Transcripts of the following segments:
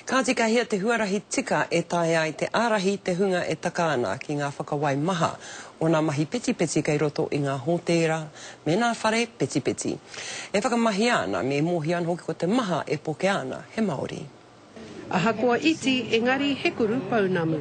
Kāti ka hia te huarahi tika e taea ai te ārahi te hunga e taka ana ki ngā whakawai maha o nā mahi petipeti kei roto i ngā hōtēra me nā whare petipeti. E whakamahia ana me mōhio ana hoki ko te maha e pokea ana he Māori. Ahakoa iti, engari he kuru pounamu.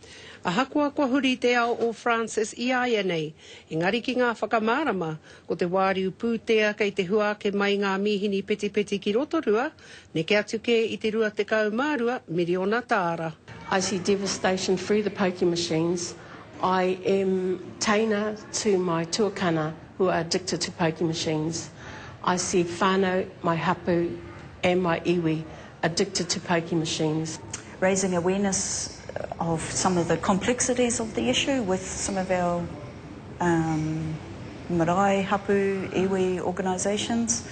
Ahakoa kua huri te ao o Frances iāianei, engari ki ngā whakamārama, ko te wāriu pūtea kei te hua ake mai ngā mīhini petipeti ki Rotorua, neke atu kē i te 22 miriona tāra. I see devastation through the pokie machines, I am teina to my tuakana who are addicted to pokie machines, I see whānau, my hapu and my iwi Addicted to pokie machines. Raising awareness of some of the complexities of the issue with some of our marae, hapu, iwi organisations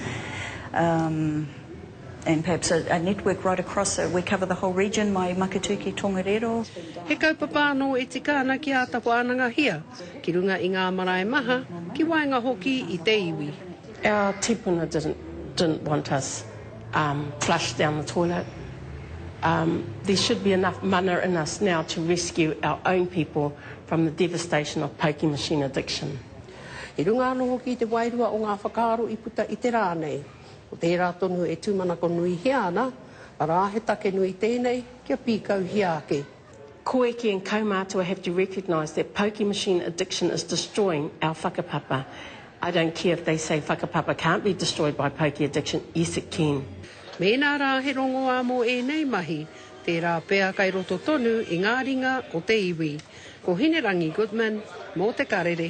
and perhaps a network right across, we cover the whole region, mai Maketūki, Tongariro. He kaupapa anō e tika ana ki āta wānangahia ki runga i ngā marae maha, ki waenga hoki i te iwi. Our tipuna didn't want us. um flush down the toilet um there should be enough mana in us now to rescue our own people from the devastation of pokie machine addiction. I runga anō hoki i te wairua o ngā whakaaro i puta i te rā nei, ko tērā tonu e tūmanako nuihia ana, arā he take nui tēnei kia pīkauhia ake. Koeke and kaumātua have to recognise that pokie machine addiction is destroying our whakapapa. I don't care if they say whakapapa can't be destroyed by pokie addiction, yes it can. Mēnā rā he rongoā mō ēnei mahi, tērā pea kei roto tonu i ngā ringa o te iwi. Ko Hinerangi Goodman, mō Te Karere.